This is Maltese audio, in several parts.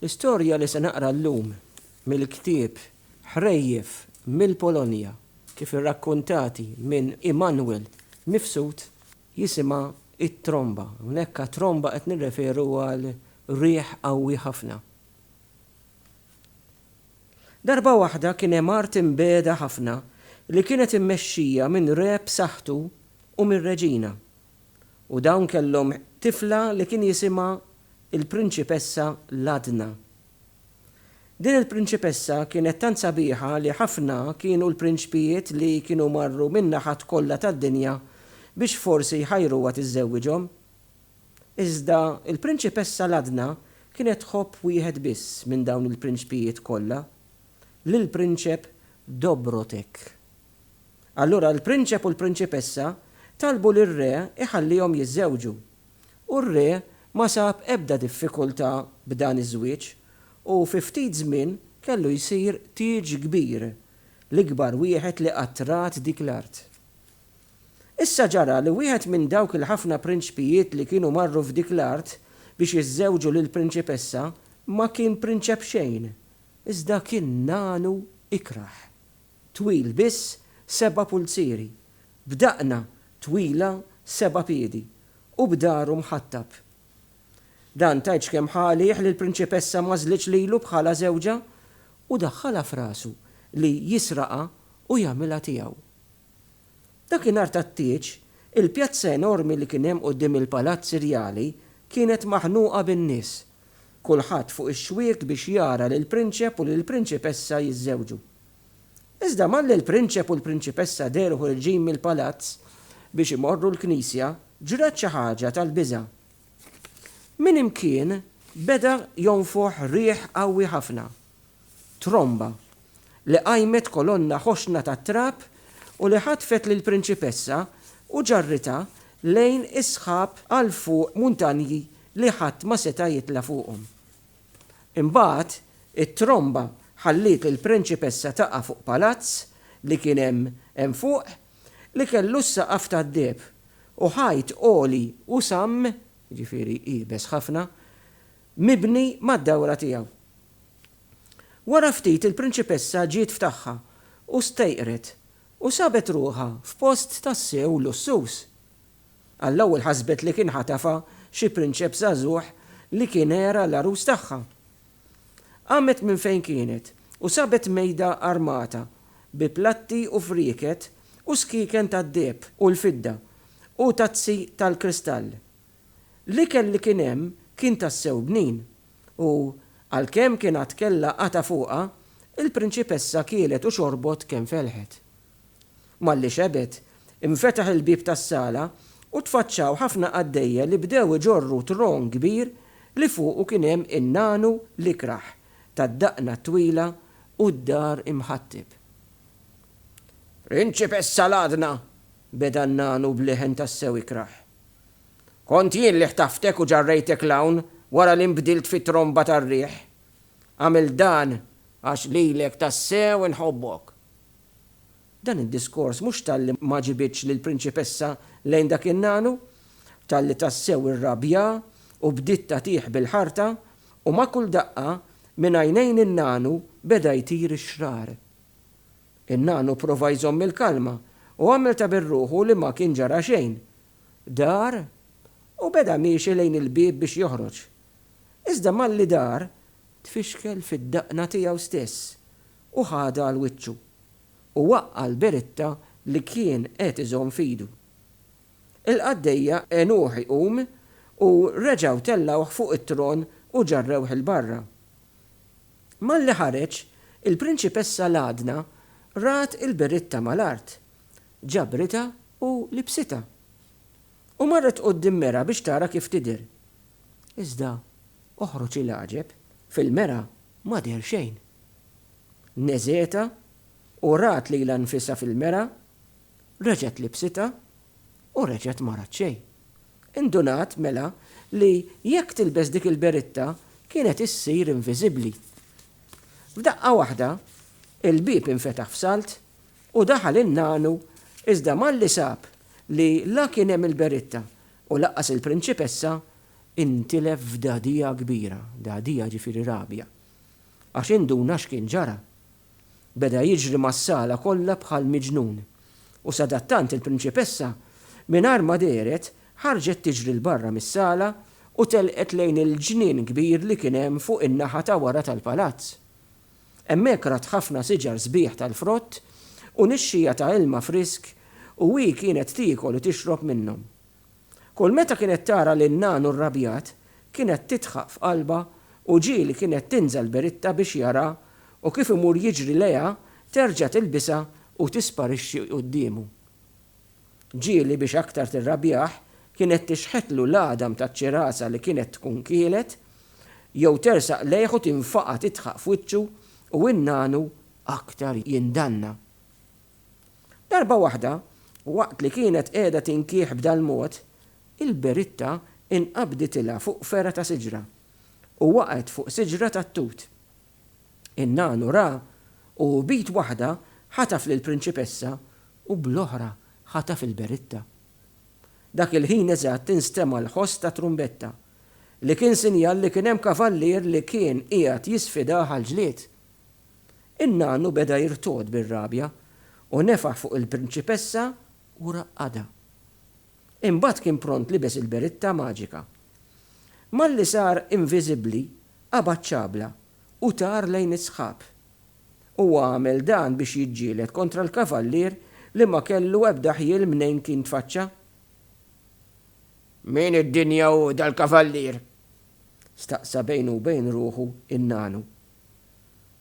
L-istorja li se naqra llum mill-ktieb Ħrejjef mill-Polonja kif irrakkuntati minn Immanuel Mifsud jisimha It-Tromba. Hawnhekk għat-tromba qed nirreferu għal riħ qawwi ħafna. Darba waħda kien hemm art imbiegħda ħafna li kienet immexxija minn re b'saħħtu u mir-reġina. u dawn kellhom tifla li kien jisimha l-Prinċipessa Ladna. Din il-Prinċipessa kienet tant sabiħa li ħafna kienu l-prinċpijiet li kienu marru min-naħat kollha tad-dinja biex forsi jħajruha tiżżewwiġhom. Iżda l-Prinċipessa Ladna kienet tħobb wieħed biss minn dawn il-prinċpijiet kollha, lill-Prinċep Dobrotek. Allura l-prinċep u l-prinċipessa talbu lir-re jħallihom jiżżewġu. U r-re ma sab ebda diffikultà b'dan iż-żwieġ u fi ftit żmien kellu jsir tieġ kbir, l-ikbar wieħed li qatt rat dik l-art. Issa ġara li wieħed minn dawk il-ħafna prinċpijiet li kienu marru f'dik l-art biex jiżżewġu lill-prinċipessa ma kien prinċep xejn, iżda kien nagħnu ikrah. twil biss seba' pulzieri, b'daqna twila seba' piedi, u b'dahru mħattab. Dan tgħidx kemm ħa għalih li l-prinċipessa m'għażlitx lilu bħala żewġha u daħħalha f'rasu li jisraqha u jagħmilha tiegħu. Dakinhar tat-tieġ, il-pjazza enormi li kien hemm quddiem il-palazz irjali kienet maħnuqa bin-nies, kulħadd fuq ix-xwiek biex jara lill-prinċep u lill-prinċipessa jiżżewġu. Iżda malli l-prinċep u l-prinċipessa dehru ħorġin mill-palazz biex imorru l-knisja, ġrat xi ħaġa tal-biża'. Minn imkien beda jonfoħ riħ qawwi ħafna, tromba, li qajmet kolonna ħoxna tat-trab u li ħatfet lill-prinċipessa u ġarritha lejn is-sħab għal fuq muntanji li ħadd ma seta' jitla' fuqhom. Imbagħad, it-tromba ħalliet lill-prinċipessa taqa' fuq palazz li kien hemm hemm fuq, li kellu s-saqaf tad-deheb, u ħajt għoli u samm, jiġifieri iebes ħafna, mibni mad-dawra tiegħu. Wara ftit il-prinċipessa ġiet f'tagħha u stejqret u sabet ruħha f'post tassew lussuż. Għall-ewwel ħasbet li kien ħatafha xi prinċep żagħżugħ li kien era l-għarus tagħha. Qamet minn fejn kienet u sabet mejda armata bi platti u frieket u skieken tad-deheb u l-fidda u tazzi tal-kristall. L-ikel li kien hemm kien tassew bnin u, għalkemm kien għad kellha qatgħa fuqha, il-prinċipessa kielet u xorbot kemm felħet. Malli xebet, infetaħ il-bieb tas-sala u tfaċċaw ħafna qaddejja li bdew iġorru tron kbir li fuqu kien hemm in-nagħnu l-ikrah tad-daqna t-twila u d-dar imħatteb. Principessa l-għadna! beda n-nagħnu b'leħen tassew ikrah. Kont jien li ħtaftek u ġarrejtek 'l hawn wara li nbdilt fi tromba tar-riħ. Għamilt dan għax lilek tassew inħobbok. Dan id-diskors mhux talli ma ġibidx lill-prinċipessa lejn dak in-nagħnu, talli tassew irrabja u bdiet tagħtih bil-ħarta, u ma' kull daqqa minn għajnejn in-nagħnu beda jtir ix-xrar. In-nagħnu prova jżomm il-kalma u għamel ta' bir-ruħu li ma kien ġara xejn. Dar u beda miexi lejn il-bieb biex joħroġ. Iżda malli dar, tfixkel fid-daqna tiegħu stess. u ħadha għal wiċċu u waqqa' l-beritta li kien qed iżomm f'idu. Il-qaddejja għenuh iqum u reġgħu tellgħuh fuq it-tron u ġarrewh 'il barra. Malli ħareġ, il-prinċipessa Ladna rat il-beritta mal-art, ġabritha u libsitha, u marret quddiem mera biex tara kif tidher. Iżda, oħroġ il-għaġeb, fil-mera ma deher xejn. Neżgħetha u rat lilha nfisha fil-mera, reġgħet libsitha u reġgħet ma rat xejn. Indunat, mela, li jekk tilbes dik il-beritta kienet issir inviżibbli. F'daqqa waħda, il-bieb infetaħ f'salt u daħal in-nanu iżda malli sab li la kien hemm il-beritta u laqqas il-prinċipessa, intilef f'dagħdija kbira, dagħdija jiġifieri rabja. għax induna x'kien ġara. Beda jiġri mas-sala kollha bħal miġnun, u sadattant il-prinċipessa, mingħajr ma dehret, ħarġet tiġri 'l barra mis-sala u telqet lejn il-ġnien kbir li kien hemm fuq in-naħa ta' wara tal-palazz. Hemmhekk rat ħafna siġar sbieħ tal-frott u nixxiegħa ta' ilma frisk u hi kienet tiekol u tixrob minnhom. Kull meta kienet tara lil nagħnu rrabjat, kienet tidħaq f'qalbha u ġieli kienet tinżel beritta biex jara u kif imur jiġri lejha terġa' tilbisha u tisparixxi quddiemu. Ġieli biex aktar tirrabjah kienet tixħetlu l-għadam taċ-ċirasa li kienet tkun kielet jew tersaq lejh u tinfaqa' tidħaq f'wiċċu u n-nagħnu aktar jindanna. Darba waħda, waqt li kienet qiegħda tinkieħ b'dal-mod, il-beritta inqabditilha fuq fergħa ta' siġra, u waqgħet fuq siġra tat-tut. In-nagħnu ra, u b'id waħda ħataf lill-prinċipessa u bl-oħra ħataf il-beritta. Dak il-ħin eżatt instema' l-ħoss ta' trumbetta, li kien sinjal li kien hemm kavallier li kien qiegħed jisfidah għall-ġlied. In-nanu beda jirtogħod bir-rabja u nefaħ fuq il-prinċipessa u raqqadha. Imbagħad kien pront libes il-beritta maġika. Malli sar inviżibbli, qabad ċabla u tar lejn is-sħab. Huwa għamel dan biex jiġġieled kontra l-kavallier li ma kellu ebda ħjiel mnejn kien tfaċċa. Min id-dinja hu dal-kavallier? staqsa bejnu u bejn ruħu n-nanu.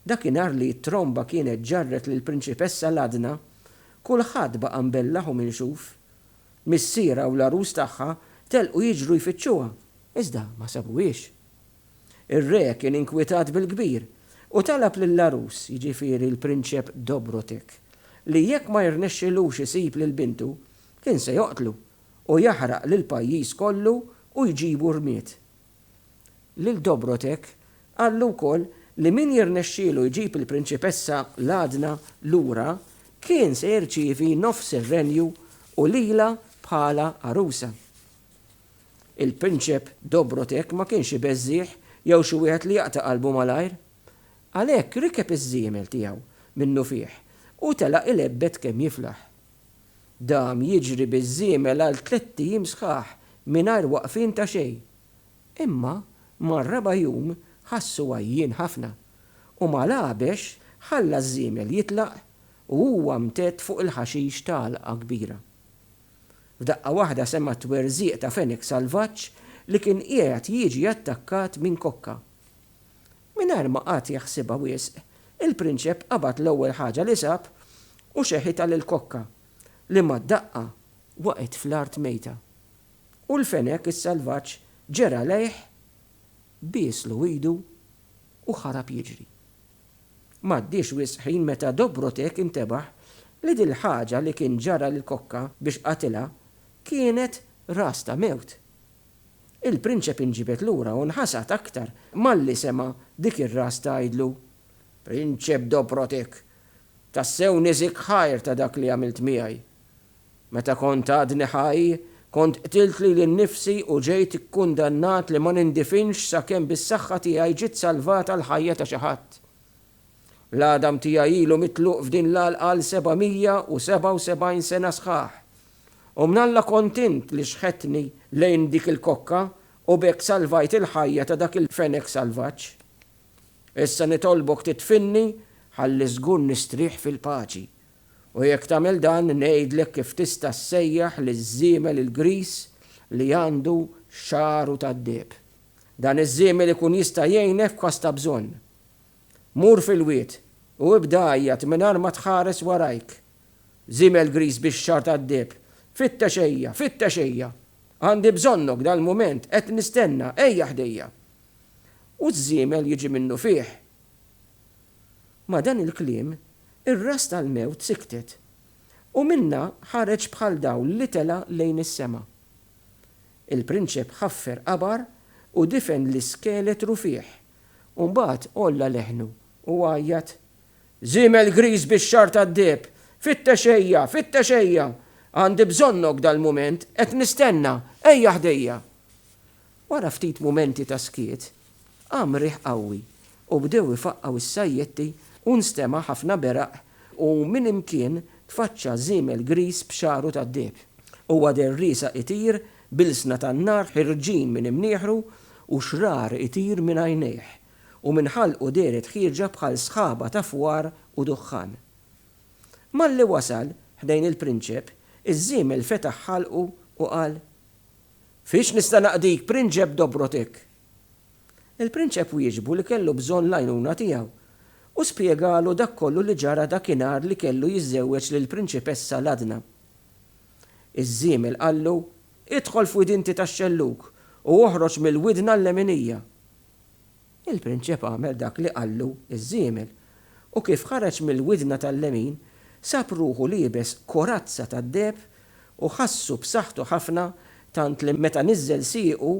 Dakinhar li t-tromba kienet ġarret lill-Prinċipessa Ladna, kulħadd baqa' mbellaħ u minxuf. Missierha u l-għarus tagħha telqu jiġru jfittxuha, iżda ma sabuhiex. Ir-Re kien inkwitat bil-kbir u talab lill-għarus, jiġifieri l-Prinċep Dobrotek, li jekk ma jirnexxilux isib lil bintu, kien se joqtlu u jaħraq lill-pajjiż kollu u jġibu rmied. Lil Dobrotek qallu wkoll li min jirnexxielu jġib il-Prinċipessa Ladyna lura kien se jirċievi nofs ir-renju u lilha bħala għarusa. Il-Prinċep Dobrotek ma kienx ibeżżigħ jew xi wieħed li jaqta' qalbu malajr. Għalhekk rikeb iż-żiemel tiegħu minnufih u telaq ilebbed kemm jiflaħ. Dam jiġri biż-żiemel għal tlett ijiem sħaħ mingħajr waqfien ta' xejn. Imma mar-raba' jum ħassu għajjien ħafna, u mal-għabex ħalla ż-żiemel jitlaq u huwa mtedd fuq il-ħaxix t'għalqa kbira. F'daqqa waħda sema' twerżiq ta' fenek salvaġġ li kien qiegħed jiġi attakkat minn kokka. Mingħajr ma qagħad jaħsibha wisq, il-prinċep qabad l-ewwel ħaġa li sab u xeħitha lill-kokka, li mad-daqqa waqgħet fl-art mejta. U l-fenek is-salvaġġ ġera għalejh, bieslu idu u ħarab jiġri. M'għaddiex wisq ħin meta Dobrotek intebaħ li dil-ħaġa li kien ġara lill-kokka biex qatilha kienet ras ta' mewt Il-prinċep inġibed lura u nħasad aktar malli sema' dik ir-ras tgħidlu, Prinċep Dobrotek, tassew niżik ħajr ta' dak li għamilt miegħi. Meta kont għadni ħaj, kont qtilt lili nnifsi u ġejt ikkundannat li ma nindifinx sakemm bis-saħħa tiegħi ġiet salvata l-ħajja ta' xi ħadd. L-għadam tiegħi ilu mitluq f'din l-għalqa għal 777 sena sħaħ. U mnalla kont int li xħetni lejn dik il-kokka u b'hekk salvajt il-ħajja ta' dak il-fenek salvaġġ. Issa nitolbok tidfinni ħalli żgur nistrieħ fil-paċi. U jekk tagħmel dan ngħidlek kif tista' ssejjaħ liż-żiemel il-griż li għandu xagħru tad-deheb. Dan iż-żiemel ikun jista' jgħinek f'każ ta' bżonn. Mur fil-wied u ibda għajjat mingħajr ma tħares warajk. Żiemel griż bix-xagħar tad-deheb, Fittex ejja, fittex ejja! Għandi bżonnok dal-mument, qed nistenna, ejja ħdejja! U ż-żiemel jiġi minnufih. Ma' dan il-kliem, ir-ras tal-mewt siktet, u minnha ħareġ bħal dawl li tela' lejn is-sema. Il-prinċep ħaffer qabar u difen l-iskeletru fih, u mbagħad għolla leħnu u għajjat, Żiemel griż bix-xagħar tad-deheb, fittex ejja, fittex ejja! Għandi bżonnok dal-mument, qed nistenna, ejja ħdejja! Wara ftit mumenti ta' skiet, qam riħ qawwi u bdew ifaqqgħu s-sajjetti u nstema' ħafna beraq u minn imkien tfaċċa żiemel griż b'xagħru tad-deheb. Huwa deher riesaq itir B'ilsna tan-nar ħirġin minn imnieħru u xrar itir minn għajnejh, u minn ħalqu dehret ħieġa bħal sħaba ta' fwar u duħħan. Malli wasal ħdejn il-prinċep, iż-żiemel fetaħ ħalqu u qal, Fiex nista' naqdik, Prinċep Dobrotek? Il-prinċep wieġbu li kellu bżonn l-għajnuna tiegħu, u spjegalu dak kollu li ġara dakinhar li kellu jiżżewweġ lill-prinċipessa Ladna. Iż-żiemel qallu, Idħol f'wid inti tax-xellug, u oħroġ mill-widn għall-leminija. Il-prinċep għamel dak li qallu ż-żiemel, u kif ħareġ mill-widna tal-lemin, sab ruħu liebes korazza tad-deheb u ħassu b'saħħtu ħafna tant li meta niżżel siequ,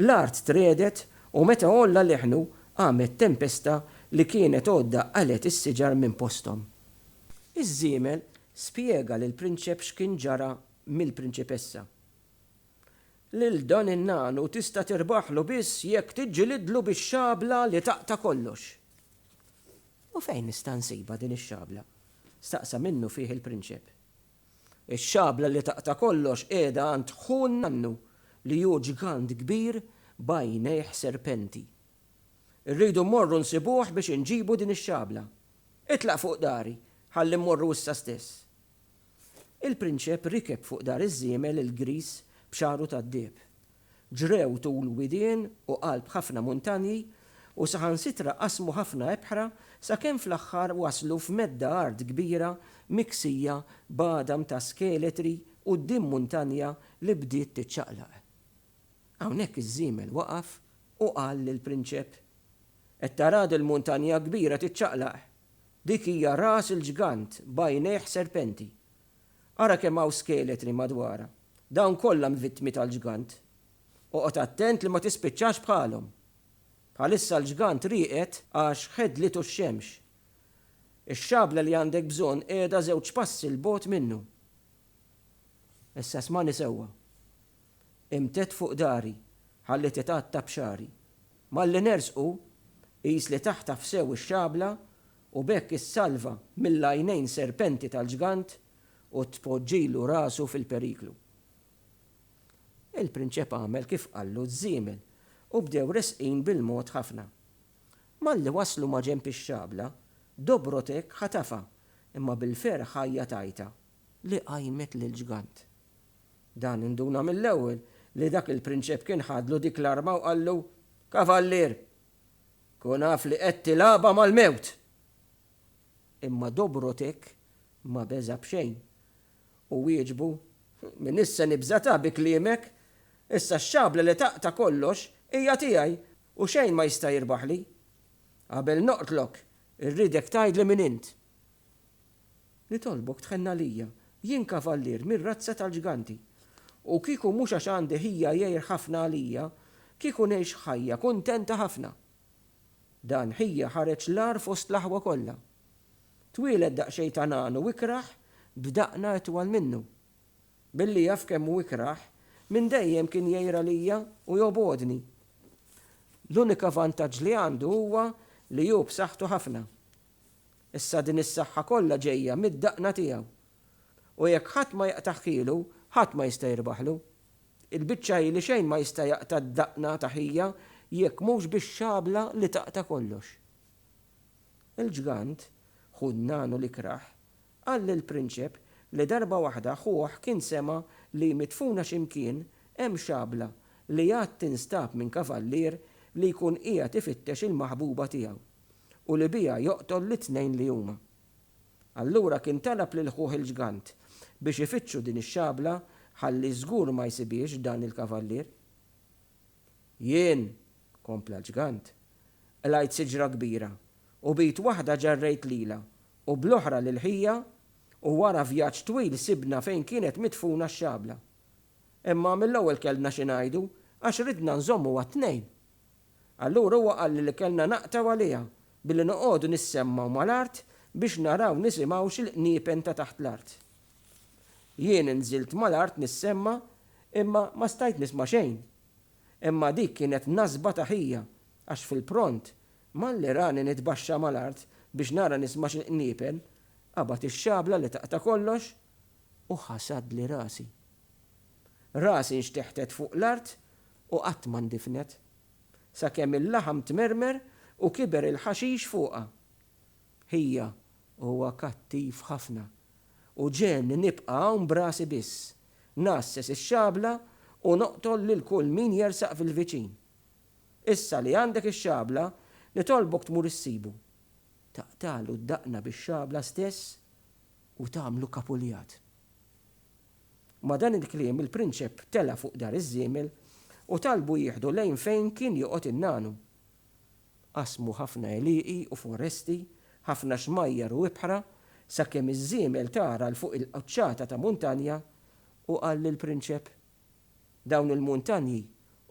l-art tregħdet u meta għolla leħnu, qamet tempesta li kienet għoddha qalgħet is-siġar minn posthom. Iż-żiemel Spjega lill-prinċep x'kien ġara mill-prinċipessa. Lil dan in-nagħnu tista' tirbaħlu biss jekk tiġġilidlu bix-xabla li taqta' kollox. U fejn nista' nsibha din ix-xabla? staqsa minnu fih il-prinċep. Ix-xabla li taqta' kollox qiegħda għand ħu n-nannu li hu ġgant kbir b'għajnejh serpenti. Irridu mmorru nsibuh biex inġibu din ix-xabla. Itlaq fuq dari, ħalli mmorru issa stess. Il-prinċep rikeb fuq dar iż-żiemel il-griż b'xagħru tad-deheb. Ġrew tul widien u qalb ħafna muntanji u saħansitra qasmu ħafna ebħra sakemm fl-aħħar waslu f'medda art kbira miksija b'għadam ta' skeletri quddiem muntanja li bdiet tiċċaqlaq. Hawnhekk iż-żiemel waqaf u qal lill-prinċep, Qed tara dil-muntanja kbira tiċċaqlaq? Dik hija ras il-ġgant b'għajnejh serpenti. Ara kemm hawn skeletri madwarha. Dawn kollha mvittmi tal-ġgant. Oqgħod attent li ma tispiċċax bħalhom. Bħalissa l-ġgant rieqed għax ħedlitu x-xemx. Ix-xabla li għandek bżonn qiegħda żewġ passi 'l bogħod minnu. Issa smagħni sewwa. Imtedd fuq dari, ħalli titgħatta b'xagħri. Malli nersqu, qis li taħtaf sew ix-xabla u b'hekk issalva mill-għajnejn serpenti tal-ġgant u tpoġġilu rasu fil-periklu. Il-prinċep għamel kif qallu ż-żiemel u bdew resqin bil-mod ħafna. Malli waslu ma' ġenb ix-xabla, Dobrotek ħatafha, imma bil-ferħ ħajja tajtha, li qajmet lill-ġgant. Dan induna mill-ewwel li dak il-prinċep kien ħadlu dik l-arma u qallu, Kavallier, kun af li qed tilgħabha mal-mewt! Imma Dobrotek ma beża' b'xejn u wieġbu, Min issa nibża' ta' bi kliemek? Issa x-xabla li taqta' kollox hija tiegħi u xejn ma jista' jirbaħli. Qabel noqtlok, irridek tgħidli min int. Nitolbok tħenn għalija. Jien kavallier mir-razza tal-ġganti. U kieku mhux għax għandi ħija jgħir ħafna għalija, kieku ngħix ħajja kuntenta ħafna. Dan ħija ħareġ l-agħar fost l-aħwa kollha. Twieled daqsxejn ta' nagħnu ikrah b'daqna itwal minnu. Billi jaf kemm hu ikrah, minn dejjem kien jgħir għalija u jobgħodni. L-unika vantaġġ li għandu huwa li hu b'saħħtu ħafna. Issa din is-saħħa kollha ġejja mid-daqna tiegħu. U jekk ħadd ma jaqta' ħkielu, ħadd ma jista' jirbaħlu. Il-biċċa hi li xejn ma jista' jaqta' d-daqna ta' ħija jekk mhux bix-xabla li taqta' kollox. Il-ġgant, ħu n-nagħnu li krah, qal lill-prinċep li darba waħda ħuh kien sema' li midfuna xi mkien hemm xabla li għad tinstab minn kavallier li jkun qiegħed ifittex il-maħbuba tiegħu. u li biha joqtol lit-tnejn li huma. Allura kien talab lil ħuh il-ġgant biex ifittxu din ix-xabla ħalli żgur ma jsibhiex dan il-kavallier. Jien, kompla l-ġgant, qlajt siġra kbira u b'id waħda ġarrejt lilha u bl-oħra lil ħija u wara vjaġġ twil sibna fejn kienet midfuna x-xabla. Imma mill-ewwel kellna xi ngħidu għax ridna nżommuha t-tnejn. Allura huwa qalli li kellna naqtgħu għaliha billi noqogħdu nissemmgħu mal-art biex naraw nisimgħux il-qniepen ta' taħt l-art. Jien inżilt mal-art nissemma' imma ma stajt nisma' xejn. Imma dik kienet nasba ta' ħija għax fil-pront malli rani nitbaxxa mal-art biex nara nisma' x'il-qniepen, qabad ix-xabla li taqta' kollox. u ħasadli rasi. Rasi nxteħtet fuq l-art u qatt ma ndifnet, sakemm il-laħam tmermer u kiber il-ħaxix fuqha. Ħija, huwa kattiv ħafna u ġegħelni nibqa' hawn b'rasi biss, ngħasses ix-xabla u noqtol lil kull min jersaq fil-viċin. Issa li għandek ix-xabla, nitolbok tmur issibu. Taqtagħlu d-daqna bix-xabla stess? u tagħmlu kapuljat. Ma' dan il-kliem il-prinċep tela' fuq dar iż-żiemel u talbu jieħdu lejn fejn kien joqgħod in-nanu. Qasmu ħafna għelieqi u foresti, ħafna xmajjar u ibħra, sakemm iż-żiemel tara 'l fuq il-quċċata ta' muntanja u qal lill-prinċep, Dawn il-muntanji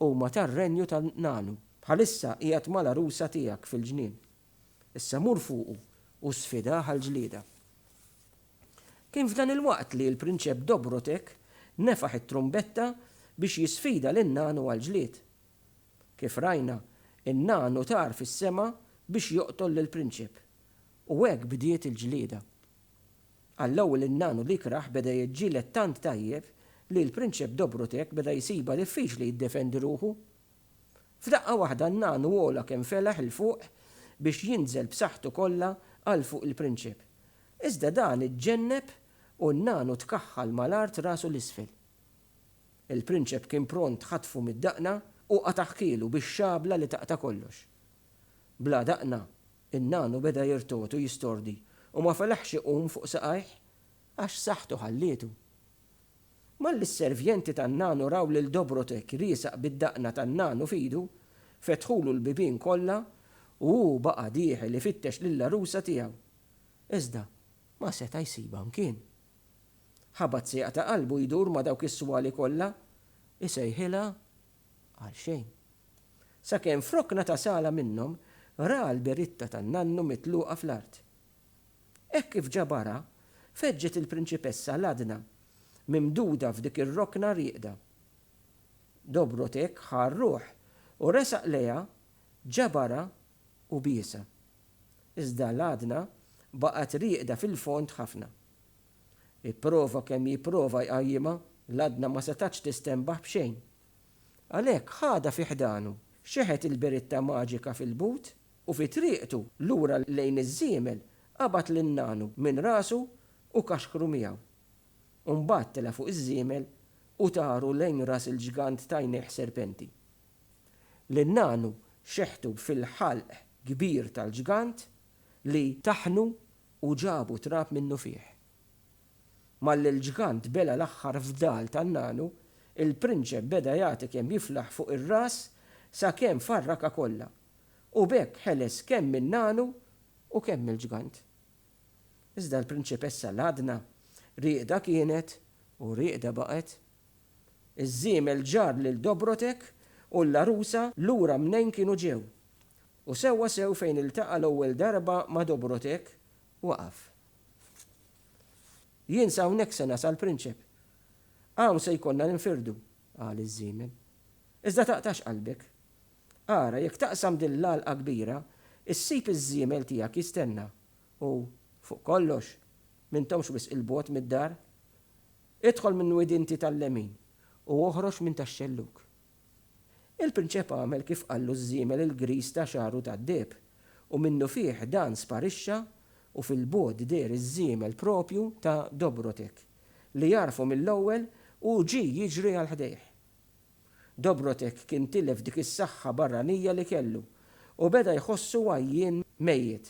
huma tar-renju tan-nanu. Bħalissa qiegħed mal-għarusa tiegħek fil-ġnien. Issa mur fuqu u sfidah għal ġlieda. Kien f'dan il-waqt li l-Prinċep Dobrotek nefaħ it-trumbetta biex jisfida lin-nanu għal ġlied. Kif rajna, in-nanu tar fis-sema biex joqtol lill-prinċep, u hekk bdiet il-ġlieda. Għall-ewwel in-nanu li krah beda jiġġieled tant tajjeb li l-Prinċep Dobrotek beda jsibha diffiċli jiddefendi ruħu. F'daqqa waħda n-nagħnu għola kemm felaħ 'il fuq biex jinżel b'saħħtu kollha għal fuq il-prinċep. Iżda dan iġġenneb u n-nagħnu tkaħħal mal-art rasu 'l isfel. Il-prinċep kien pront ħatfu mid-daqna u qata' ħkielu bix-xabla li taqta' kollox. Bla daqna, in-nagħnu beda jirtot u jistordi u ma felaħx iqum fuq saqajh għax saħħtu ħallietu. Malli s-servjenti tan-nanu raw lil Dobrotek riesaq bid-daqna tan-nanu f'idu, fetħulu l-bibien kollha u hu baqa' dieħel ifittex lill-għarusa tiegħu. Iżda ma seta' jsibha mkien. Ħabat sejqa ta' qalbu jdur ma' dawk is-swali kollha, isejħilha għalxejn. Sakemm f'rokna ta' sala minnhom ra l-biritta tan-nannu mitluqa fl-art. Hekk kif ġabarha, feġġet il-prinċipessa l-għadna mimduda f'dik ir-rokna rieqda. Dobrotek ħa r-ruħ u resaq lejha, ġabarha u biesha. Iżda l-għadna baqgħet rieqda fil-fond ħafna. Ipprova kemm jipprova jqajjimha, l-għadna ma setgħetx tistenbaħ b'xejn. Għalhekk ħadha fi ħdanu, xeħet il-biritta maġika fil-but U fi triqtu lura lejn iż-żiemel qabad lil nagħnu minn rasu u kaxkru miegħu. U mbagħad tela' fuq iż-żiemel u taru lejn ras il-ġgant t'għajnejh serpenti. Lil nagħnu xeħtu fil-ħalq kbir tal-ġgant li taħħnu u ġabu trab minnu fih. Malli l-ġgant bela' l-aħħar fdal ta' nagħnu, il-prinċep beda jagħti kemm jiflaħ fuq ir-ras sakemm farrakha kollha. u b'hekk ħeles kemm min-nagħnu u kemm mill-ġgant. Iżda l-prinċipessa l-għadna rieqda kienet u rieqda baqgħet. Iż-żiemel ġarr lil Dobrotek u l-għarusa lura mnejn kienu ġew, u sewwa sew fejn iltaqa' l-ewwel darba ma' Dobrotek, waqaf. Jien sa hawnhekk se nasal, prinċep. Hawn se jkollna ninfirdu, qal iż-żiemel. Iżda taqtax qalbek. Ara, jekk taqsam din l-għalqa kbira, issib iż-żiemel tiegħek jistenna, u, fuq kollox, m'intomx wisq 'il bogħod mid-dar. Idħol minn widinti tal-lemin, u oħroġ minn tax-xellug. Il-prinċep għamel kif qallu ż-żiemel il-griż ta' xagħru tad-deheb, u minnufih dan sparixxa u fil-bogħod deher iż-żiemel proprju ta' Dobrotek, li għarfu mill-ewwel u ġie jiġri għal ħdejh. Dobrotek kien tilef dik is-saħħa barranija li kellu u beda jħossu għajjien mejjed.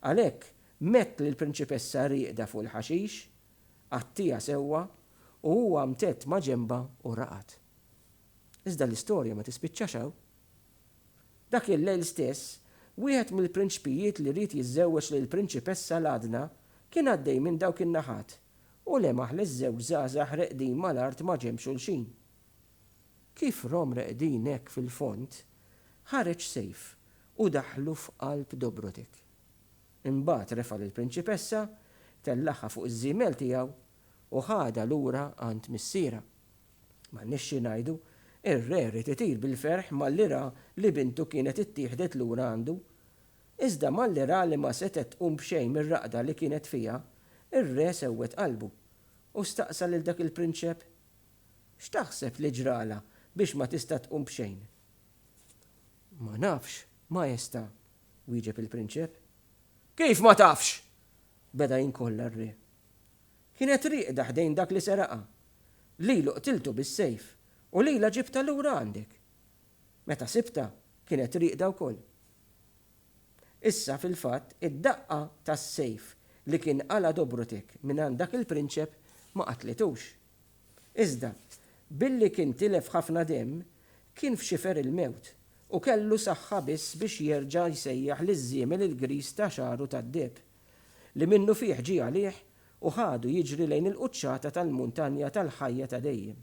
Għalhekk mett lill-prinċipessa rieqda fuq il-ħaxix, għattiha sewwa u huwa mtedd ma' ġenbha u raqad. Iżda l-istorja ma tispiċċax hawn. Dak il-lejl stess, wieħed mill-prinċpijiet li ried jiżżewweġ lill-prinċipessa l-għadna kien għaddej minn dawk in-naħat U lemaħ li ż-żewġ żgħażagħ reqdin mal-art ma' ġenb xulxin. Kif rom reqdin hekk fil-fond, ħareġ sejf u daħħlu f'qalb Dobrotek. Imbagħad refa' lill-prinċipessa, tellagħha fuq iż-żiemel tiegħu u ħadha lura għand missierha. M'għandniex xi ngħidu, ir-re ried itir bil-ferħ malli ra li bintu kienet ittieħdet lura għandu. Iżda malli ra li ma setgħet tqum b'xejn mir-raqda li kienet fiha, ir-re sewwed qalbu, u staqsa lil dak il-prinċep, X'taħseb li ġralha biex ma tista' tqum b'xejn? Ma nafx, Maestà, wieġeb il-prinċep. Kif ma tafx? beda jinkolla r-re. Kienet rieqda ħdejn dak li seraqha. Lilu qtiltu bis-sejf u lilha ġibtha lura għandek. Meta sibtha, kienet rieqda wkoll. Issa, fil-fatt, id-daqqa tas-sejf li kien qala' Dobrutek mingħand dak il-prinċep ma qatlitux. Iżda, billi kien tilef ħafna demm, kien f'xifer il-mewt u kellu saħħa biss biex jerġa' jsejjaħ liż-żiemel il-griż ta' xagħru tad-deheb, li minnufih ġie għalih u ħadu jiġri lejn il-quċċata tal-muntanja tal-ħajja ta' dejjem.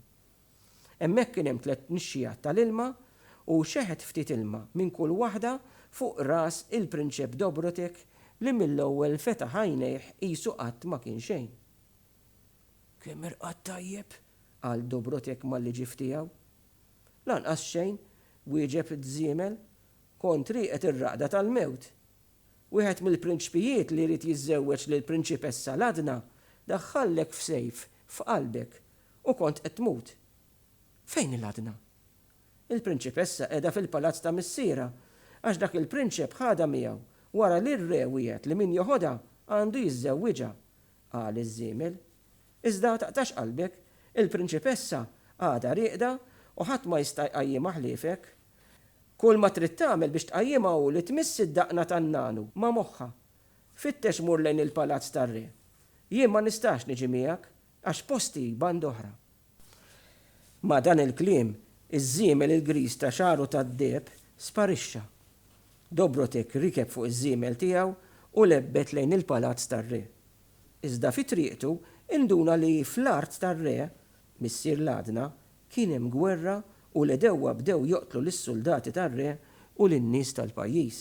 Hemmhekk kien hemm tliet nixxiegħat tal-ilma u xeħet ftit ilma minn kull waħda fuq ras il-Prinċep Dobrotek li mill-ewwel fetaħ għajnejh qisu qatt ma kien xejn. Kemm irqadt tajjeb! qal Dobrotek mal-liġief tiegħu. Lanqas xejn, wieġeb Żiemel. Kont rieqed ir-raqda tal-mewt. Wieħed mill-prinċpijiet li jrid jiżżewweġ lill-prinċipessa Ladna daħħallek f'sejf f'qalbek u kont qed tmut. Fejn hi Ladna? Il-prinċipessa qiegħda fil-palazz ta' missierha għax dak il-prinċep ħadha miegħu wara li r-re wiegħed li min joħodha għandu jiżżewwiġha, qal iż-żiemel. Iżda taqtax qalbek, il-prinċipessa għadha rieqda u ħadd ma jista' jqajjimha ħliefek. Kulma trid tagħmel biex tqajjimha hu li tmiss id-daqna tan-nagħnu ma' moħħha. Fittex mur lejn il-palazz tar-re. Jien ma nistax niġi miegħek għax posti band oħra. Ma' dan il-kliem, iż-żiemel il-griż ta' xagħru tad-deheb sparixxa. Dobrotek rikeb fuq iż-żiemel tiegħu u lebbet lejn il-palazz tar-re. Iżda fi triqtu induna li fl-art tar-re Missier l-għadna, kien hemm gwerra u l-għedewwa bdew joqtlu lis-suldati tar-re u lin-nies tal-pajjiż.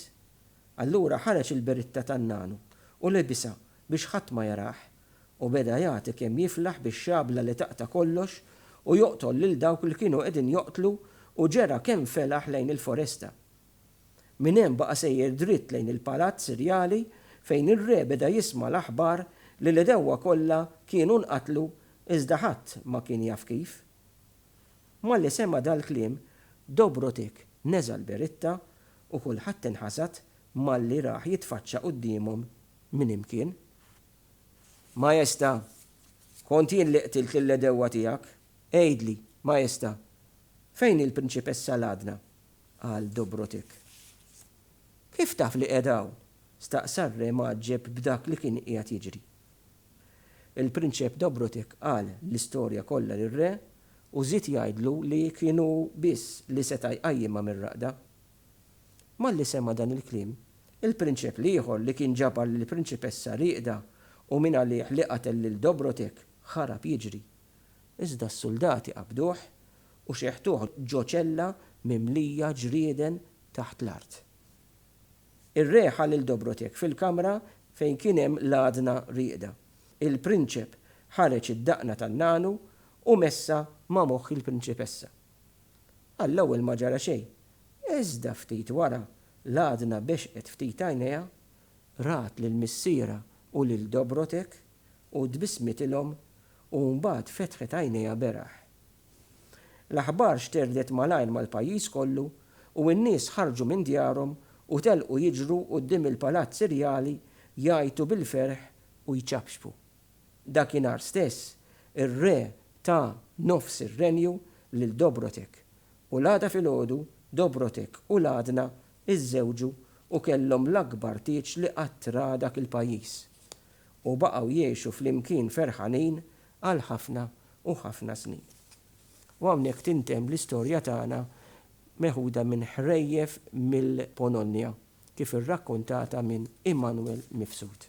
Allura ħareġ il-beritta tan-nagħnu u lebisha biex ħadd ma jarah, u beda jagħti kemm jiflaħ bix-xabla li taqta' kollox u joqtol lil dawk li kienu qegħdin joqtlu u ġera kemm felaħ lejn il-foresta. Minn hemm baqa' sejjer dritt lejn il-palazz irjali fejn ir-re beda jisma' l-aħbar li l-għedewwa kollha kienu nqatlu iżda ħadd ma kien jaf kif. Malli sema' dal-kliem, Dobrotik neża' l-beritta u kulħadd inħasad malli rah jitfaċċa quddiemhom minn imkien. Majesta', kont jien li qtilt lill-għedewwa tiegħek? Għidli, Majesta', fejn hi l-Prinċipessa Ladna? qal Dobrotiq. Kif taf li qiegħda hawn? staqsa r-re mgħaġġeb b'dak li kien qiegħed jiġri. Il-Prinċep Dobrotiq qal l-istorja kollha lir-re u żied jgħidlu li kien hu biss li seta' jqajjimha mir-raqda. Malli sema' dan il-kliem, il-prinċep l-ieħor li kien ġabar lill-prinċipessa rieqda u mingħalih li qatel lil Dobrotiq, ħarab jiġri. Iżda s-suldati qabduh u xeħtuh ġo ċella mimlija ġrieden taħt l-art. Ir-re ħa lil Dobrotek fil-kamra fejn kien hemm l-għadna rieqda. Il-prinċep ħareġ id-daqna tan-nagħlu u messha ma' moħħ il-prinċipessa. Għall-ewwel ma ġara xejn, iżda ftit wara l-għadna bexqet ftit għajnejha, rat lil missierha u lil Dobrotek, u tbissmitilhom u mbagħad fetħet għajnejha beraħ. L-aħbar xterdet malajr mal-pajjiż kollu u n-nies ħarġu minn djarhom u telqu jiġru quddiem il-palazz irjali jgħajtu bil-ferħ u jċapċpu. Dakinhar stess, ir-re ta nofs ir-renju lil Dobrotek, u l-għada filgħodu Dobrotek u l-għadna Iżżewġu u kellhom l-akbar tieġ li qatt ra dak il-pajjiż, u baqgħu jgħixu flimkien ferħanin għal ħafna u ħafna snin. U hawnhekk tintemm l-istorja tagħna meħuda minn ħrejjef mill-Polonja kif irrakkontata minn Immanuel Mifsud.